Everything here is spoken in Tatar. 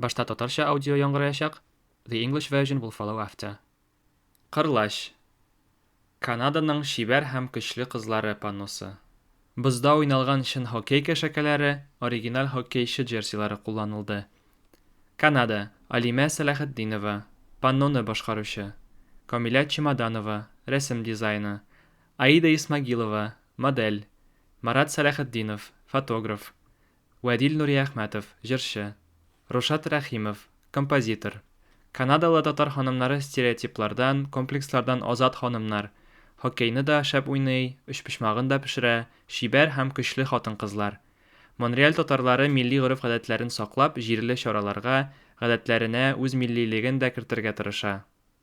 Башта татарча аудио яңгыраячак, the English version will follow after. Кырлач. Канаданың чибәр һәм көчле кызлары панносы. Бозда уйналган чын хоккей кәшәкәләре, оригиналь хоккейчы джерсилары кулланылды. Канада, Алимә Сәләхетдинова, панноны башкаручы. Камилә Чемоданова, рәсем дизайны. Аида Исмагилова, модель. Марат Сәләхетдинов, фотограф. Вәдил Нуриәхмәтов, җырчы. Рушат Рәхимов, композитор. Канадалы татар ханымнары стереотиплардан, комплекслардан азат ханымнар. Хоккейны да шәп уйный, өчпочмагын да пешерә, чибәр һәм көчле хатын-кызлар. Монреаль татарлары милли гореф-гадәтләрен саклап, җирле чараларга, гадәтләренә үз миллилеген дә кертергә тырыша.